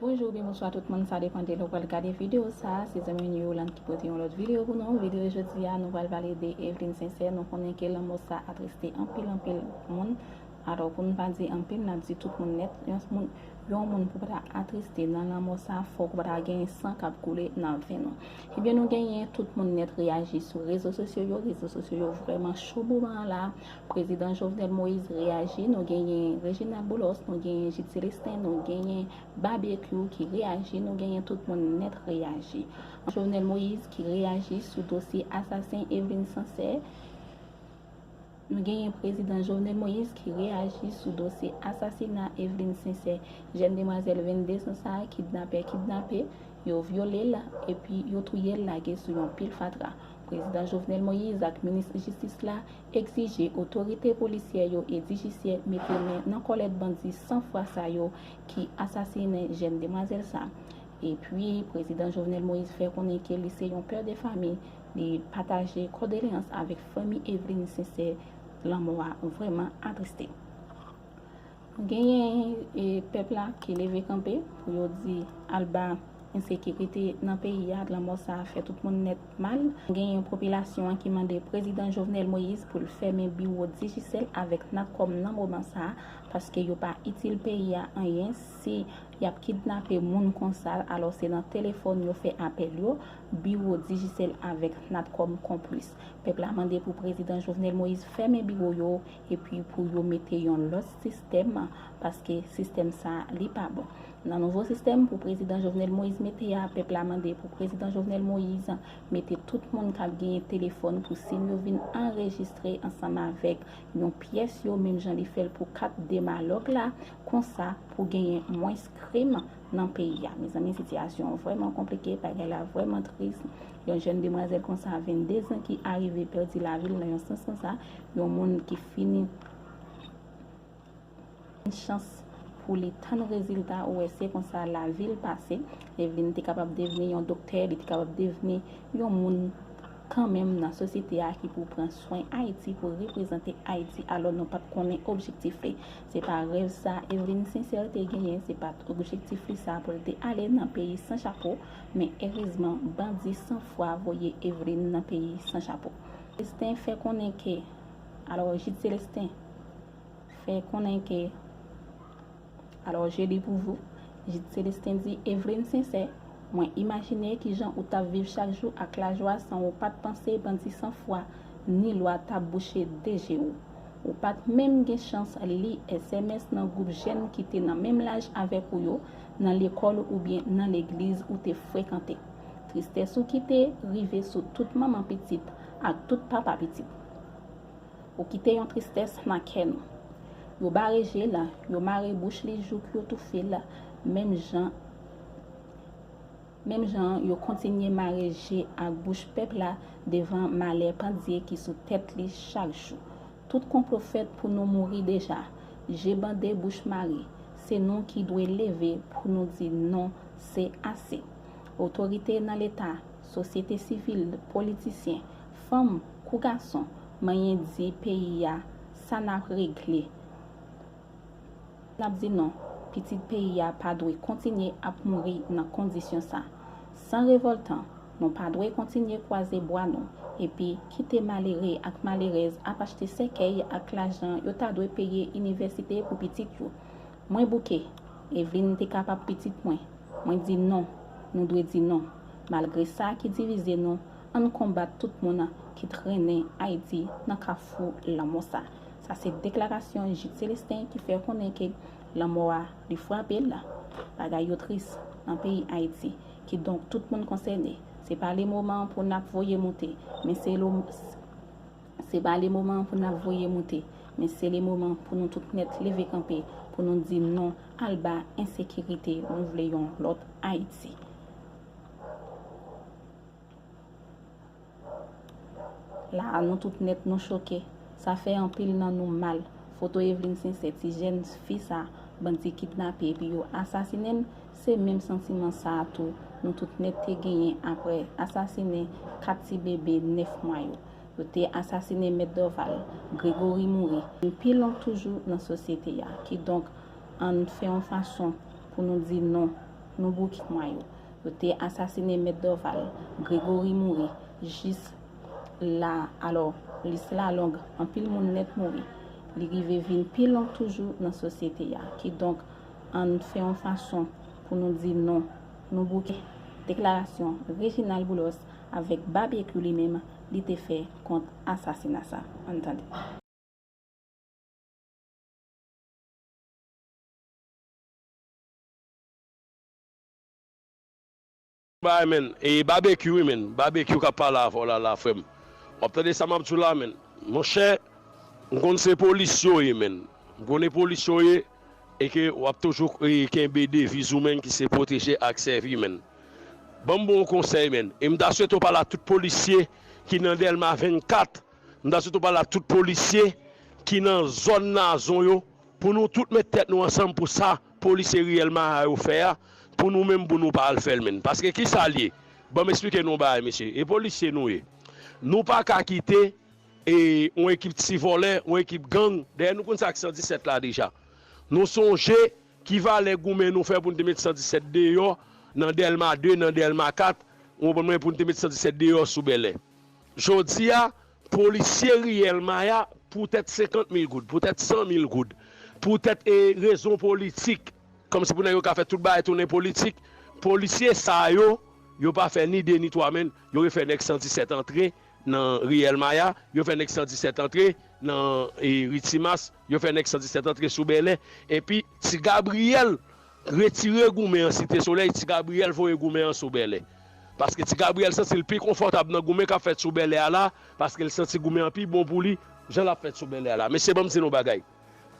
Bonjou oubyen bonswa tout moun, sa depan de lè ou pral gade videyo sa, se zanmiw ni Yolande ki pote yon lòt videyo pou nou, videyo jodi a nou pral pale de Evelyne Sincère, nou konnen ke lanmò sa atriste anpil anpil moun, Atò, pou n pa di anpil, n ap di tout moun nèt, yon moun pou pa ta atriste nan lanmò sa a fòk pa ta genyen san k ap koule nan venn ou. Ebyen nou genyen tout moun nèt reyaji sou rezo sosyo yo, rezo sosyo yo vrèman cho moman an la a, Prezidan Jovenel Moïse reyaji, nou genyen Reginald Boulos, nou genyen J. Celestin, nou genyen Babekyou ki reyaji, nou genyen tout moun nèt reyaji. Jovenel Moïse ki reyaji sou dosye asasen Evelyne Sancet. Nou genyen Prezidan Jovenel Moïse ki reyaji sou dosye asasina Evelyne Sincère, jèn demwazèl 22 zan sa a kidnapè kidnape, yo vyole l epi yo touye l lage sou yon pil fatra. Prezidan Jovenel Moïse ak Minis Jistis la egzije otorite polisyè yo e dijisye mete men nan kòlèt bandi san fwa sa yo ki asasinen jèn demwazèl sa. Epi Prezidan Jovenel Moïse fè konnen ke li se yon pè de fami Li pataje kòdoleyans avèk fanmi Eveline Sincère lanmò a vrèman atriste. Genyen pèp la ki leve kanpe pou yo di alba ensekirite nan peyi a, lanmò sa a fè tout moun nèt mal. Genyen popilasyon an ki mande prezidan Jovenel Moïse pou l fèmen biwo Digicel avèk Natcom nan moman sa a paske yo pa itil peyi a anyen. Si yap kidnape moun konsal alò se nan telefòn yo fè apèl yo, biwo Digicel avèk Natcom konplis. Pèp la mande pou prezidan Jovenel Moïse fèmen biwo yo epi pou yo mete yon lòt sistèm paske sistèm sa li pa bon. Nan nouvo sistèm pou prezidan Jovenel Moïse mete a pèp la mande pou prezidan Jovenel Moïse mete tout moun kap genyen telefòn pou sim yo vin anrejistre ansanm avèk yon pyès yo menm jan li fèl pou kat demalòg la Konsa pou genyen mwens krim nan peyi a. Mezanmi sitiyasyon an vrèman konplike, bagay la vrèman tris. Yon jèn demwazèl konsa 22 zan ki arive pèdi lavi l nan yon sans konsa, yon moun ki fini gen chans pou li tann rezilta ou wè se konsa lavi l pase. Evlin te kapab devni yon doktè, li te kapab devni yon moun kanmenm nan sosyete a ki pou pran swen Ayiti, pou reprezante Ayiti alò nou pat konnen objektif li. Se pa rèv sa Evelyne Sincère te genyen, se pat objektif li sa pou l te ale nan peyi san chapo, men erezman bandi san fwa voye Evelyne nan peyi san chapo. Célestin fè konnen ke Alò Jude Célestin fè konnen ke Alò je lis pour vous Jude Célestin di Evelyne Sincère, mwen imajine ki jan ou tap viv chak jou ak lajwa san ou pat panse bandi san fwa ni lwa tap bouche 2 je ou. Ou pa t menm gen chans li sms nan gwoup jèn ki te nan menm laj avèk ou yo, nan lekòl oubyen nan legliz ou te frekante. Tristès ou kite rive sou tout manman pitit ak tout papa pitit. Ou kite yon tristès nan kè nou. Yo bare je l, yo mare bouch li jouk yo toufe l menm jan. Menm jan an, yo kontinye mare je ak bouch pèp la devan malè pandye ki sou tèt li chak jou. Tout konplo fèt pou nou mouri deja. Je bande bouch mare. Se nou ki dwe leve pou nou di non, se ase. Otorite nan leta, sosyete sivil, politisyen, fanm kou gason, manyen di peyi a sa n ap regle. N ap di non, pitit peyi a pa dwe kontinye ap mouri nan kondisyon sa. San revòltan, nou pa dwe kontinye kwaze bwa nou epi kite malere ak malerèz ap achte sèkèy ak lajan yo ta dwe peye inivèsite pou pitit yo. Mwen bouke, Evelyne te kapab pitit mwen. Mwen di non, nou dwe di non. Malgre sa ki divize nou, ann konbat tout moun ki trennen Ayiti nan kafou lanmò sa. Sa se deklarasyon Jid Celestin ki fè konnen ke lanmò a li frape l. Bagay yo tris nan peyi Ayiti. Kidonk tout moun konsène. Se pa le moman pou n ap voye moute, men se lo, se pa le moman pou n ap voye moute, men se le moman pou nou tout nèt leve kanpe pou nou di non alba ensekirite nou vle yon lòt Ayiti. La a nou tout nèt nou choke, sa fè anpil nan nou mal. Foto Evelyne Sincère, ti jèn fi sa bandi kidnape epi yo asasine l, se menm santiman sa a tou nou tout nèt te genyen aprè asasinen 4 ti bebe 9 mwa yo. Yo te asasine Mèt Dorval, Grégory mouri, men pi long toujou nan sosyete a. Kidonk, ann fè yon fason pou nou di non, nou bouki mwa yo. Yo te asasine Mèt Dorval. Gregory mouri jis la alò lis la long anpil moun nèt mouri. Li rive vin pi long toujou nan sosyete a. Kidonk ann fè yon fason pou nou di non, nou bouke deklarasyon Reginald Boulos avèk Babyekyou li menm li te fè kont asasina sa. Ann tande. Bye man e babekyou wi man babekyou kap pale avèw la la frèm wap tande sa map diw la man monchè m konn se polis yo ye man m konnen polis yo ye e ke wap toujou kenbe deviz ou man ki se pwoteje ak sèvi man banm bon konsèy man e m ta swete w pale ak tout polisye ki nan dèlma 24 m ta swete w pale ak tout polisye ki nan zòn nazon yo pou nou tout met tèt nou ansanm pou sa. Polisye riyèl maha yo fè a pou nou menm pou nou pa al fèl menn paske kisal ye banm esplike nou yon bagay mesye e polisye nou ye nou paka kite e yon ekip ti vòlè yon ekip gang dèyè nou konn sak 117 la deja nou sonje ki valè goumen nou fè poun te met 117 deyò nan dèlma 2 nan dèlma 4 ou konprann mwen poun te met 117 deyò sou bèlè jodi a Polisye riyèl maya poutèt 50 mil goud, poutèt 100 mil goud, poutèt e rezon politik, kòm si pou nèg yo ka fè tout bagay tounen politik, polisye sa yo, yo pa fè ni 2 ni 3 men, yo re fè nèg 117 antre nan riyèl maya, yo fè nèg 117 antre nan e ri timas, yo fè nèg 117 antre sou bèlè, epi ti gabriyèl Retire goumen an Site Solèy, Ti Gabriyèl voye goumen an sou Bèlè. Paske Ti Gabriyèl santi l pi konfòtab nan goumen k ap fèt sou Bèlè a la, paske l santi goumen an pi bon pou li, jan l ap fèt sou Bèlè a la. Mesye ban m di nou bagay,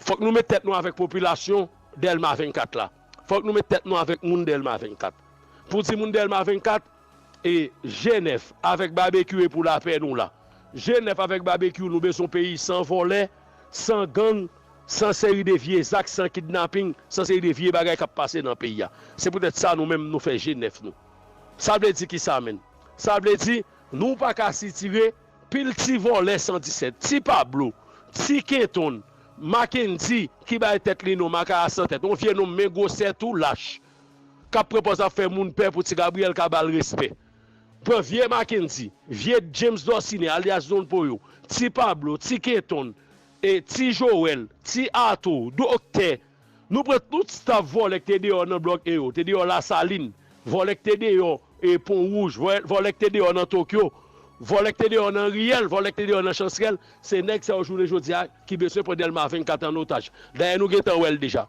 fòk nou met tèt nou avèk popilasyon Dèlma 24 la. Fòk nou met tèt nou avèk moun Dèlma 24. Pou di moun Dèlma 24. E G9 avèk Babekyou e pou lapè nou la. G9 avèk Babekyou nou bezwen yon peyi san vòlè, san gang, san seri de vye zak, san kidnaping, san seri de vye bagay kap pase nan peyi a. Se poutèt sa nou menm nou fè G9 nou. Sa vle di kisa menn? Sa vle di nou pa ka sitire pil ti vòlè 117, ti Pablo, ti Kenton, Mackendy ki bay tèt li non Makaya san tèt, yon vye nonm men gwosè tou lach. kap pran pòz ap fè moun pè pou ti Gabriel ka bal respè. Pran vye Mackendy, vye James Dorcine alyas Don Poyo, ti Pablo, ti Kenton, e ti Joel, ti Arthur, Doktè. Nou pran tout staff vòlè k te deyò nan blòk e yo te deyò Lasalin, vòlè k te deyò e Pon Wouj, vòlè k te deyò nan Tokyo, vòlè k te deyò nan Riyèl, vòlè k te deyò nan Chansrèl, se nèg sa yo jounen jodi a ki beswen pran Dèlma 24 an otaj. Dayè nou gentan wèl deja.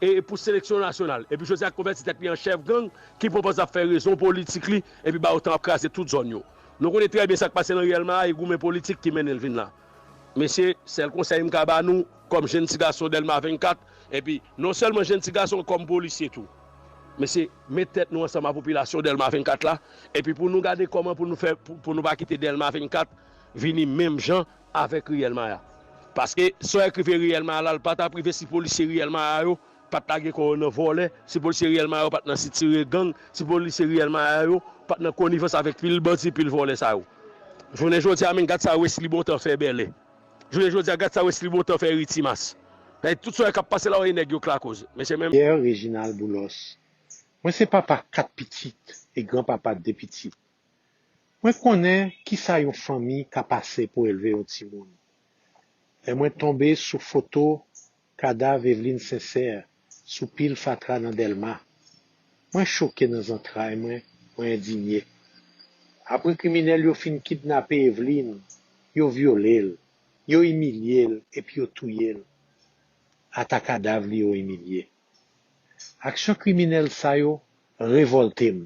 e pou seleksyon nasyonal epi Joseph konvèti tèt li an chèf gang ki pran pòz lap fè rezon politik li epi ba yo tan ap kraze tout zòn yo nou konnen trè byen sak pase nan riyèl ma a e goumen politik ki mennenl vin la mesye sèl konsèy m ka ba nou kòm jenn ti gason dèlma 24 epi non sèlman jenn ti gason kòm polisye tou mesye met tèt nou ansanm a popilasyon dèlma 24 la epi pou nou gade kòman pou nou fè pou nou pa kite dèlma 24 vini menm jan avèk Riyèl Maya. Paske sa w ekri ve Riyèl Maya la l pa t ap rive si polisye Riyèl Maya yo pa t lage kò yo nan vòlè, si polisye Riyèl Maya yo pa t nan sitire gang, si polisye Riyèl Maya yo pa t nan konivans avèk pil bandi, pil vòlè sa yo. Jounen jodi a menn gad sa Wesly Bontan fè Bèlè. Jounen jodi a gad sa Wesly Bontan fè Ri Timas. Dayè tout sa yo k ap pase la w e nèg yo k lakoz. Mesye men. Pierre Reginald Boulos Mwen se papa 4 pitit e gran papa 2 pitit. Mwen konnen ki sa yon fanmi ka pase pou elve yon timoun. Lè mwen tonbe sou foto kadav Eveline Sincère sou pil fatra nan Dèlma, mwen choke nan zantray mwen, mwen endinye. Apre kriminèl yo fin kidnape Eveline, yo vyole l, yo imilye l epi yo touye l. Ata kadav li yo imilye. Aksyon kriminèl sa yo revòlte m.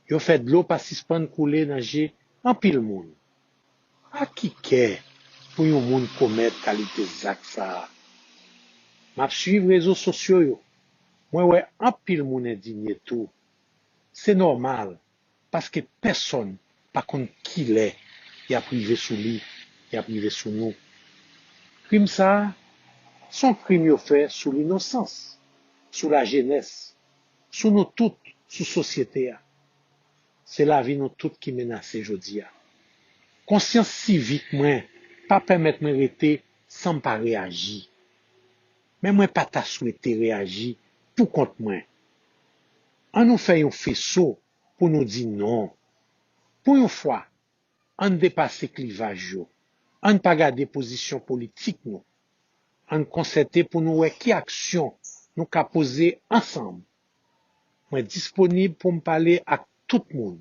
yo fè dlo pa sispann koule nan je anpil moun. Ak ki kè pou yon moun komèt kalite zak sa a? M ap suiv rezo sosyo yo, mwen wè anpil moun endinye tou. Se nòmal, paske pèsonn pa konn kilè y ap rive sou li, y ap rive sou nou. Krim sa a, s on krim yo fè sou linosans, sou lajenès, sou nou tout, sou sosyete a. Se lavi nou tout ki menase jodi a. Konsyans sivik mwen pa pèmèt mwen rete san m pa reyaji. Men mwen pa ta swete reyaji pou kont mwen. An nou fè yon feso pou nou di non. Pou yon fwa, Ann depase klivaj yo. Ann pa gade pozisyon politik nou. Ann konsète pou nou wè ki aksyon nou ka poze ansanm. Mwen disponib pou m pale ak tout moun.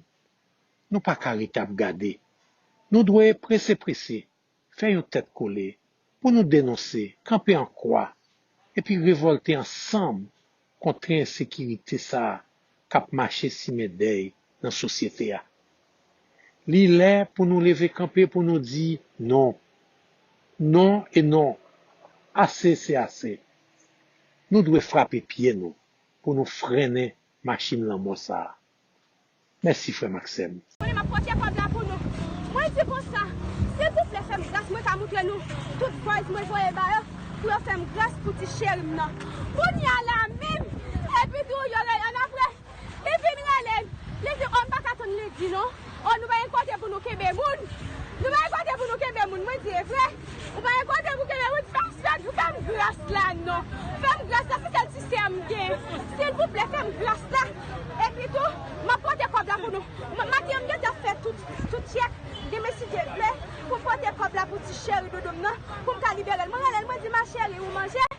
Nou pa ka rete ap gade. Nou dwe prese prese fè yon tèt kole pou nou denonse, kanpe an kwa epi revòlte ansanm kont tren ensekirite sa a k ap mache simen dèy nan sosyete a. Li lè pou nou leve kanpe pou nou di non. Non e non. Ase se ase. Nou dwe frape pye nou pou nou frennen machin lanmò sa a. Mèsi frèm ak sèm. Konnen map pote kob la pou nou mwen di konsa silvouplè fèm gras mwen ka moutre nou tout buzz mwen voye ba yo pou yo fèm gras pou ti cherim nan kounya la menm epitou yo rele anapre li vin relem li di oh m paka tann li di non. Oh nou pa gen kote pou nou kenbe moun Nou pa gen kote pou nou kenbe moun mwen di e vre Ou pa gen kote pou kenbe moun fèm sèt ou fèm gras la non Fèm gras la se sèl ti sè m gen silvouplè fèm gras la Epi tou map pote kòb la pou nou Maten an m gentan ap fè tout tout chèk demen si Dye vle Pou m pote kòb la pou ti cheri doudou m nan Pou m ka liberel mwen relel mwen di ma cheri ou manje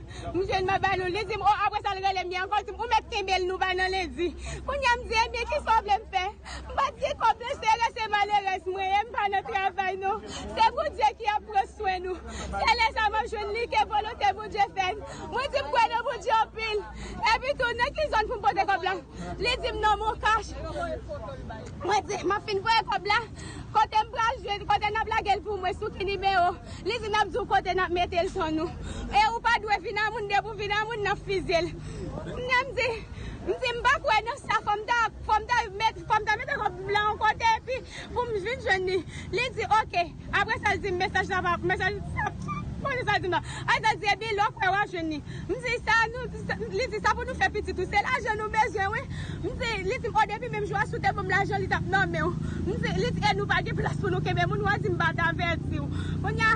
M jwenn mwen ba nou, li di m o apre sa l rele m byen ankò, li di m ou mèt kenbe l nou bay nan lendi. Kounye a m di ebyen kisa w vle m fè? M pa t gen kòb nan sere se malerèz mwen ye m pa nan travay non. Se Bondye ki ap pran swen nou. Se lè sa m ap jwenn li ke volonte Bondye fèt. Mwen di m kwè nan Bondye anpil. Epi tou nan ki zòn pou m pote kòb la? Li di m nan Moncash. Mwen di, m ap fin voye kòb la, kote m pral jwenn, kote n ap lage l pou mwen, sou ki nimewo? Li di, n ap di w kote n ap mete l ton nou. E ou pa dwe vin a moun, depi w vin a moun, n ap fizye l. Kounye a m di, m di m pa kwè nan sa, fò m ta, fò m ta mete kòb m lan yon kote epi pou m vin jwenn li. Li di, ok. Apre sa l di m mesaj la pa mesaj sa Mwen sa l di m nan Apre sa l di ebyen lè w kwè w ap jwenn li M di sa nou Li di sa pou nou fè pitit ou se lajan nou bezwen wi M di Li di m o depi menm jou a si w te ban m lajan li t ap nan men w M di Li di e nou pa gen plas pou nou kenbe moun wa di m pa t avèti w Kounya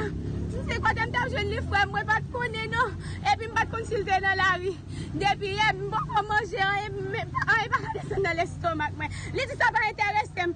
M di kote m t ap jwenn li frè m mwen pa t konnen non Epi m pa t konn si l te nan lari Depi yè m poko manje anyen Anyen pa ka desann nan lestomak mwen Li di sa pa enterese m.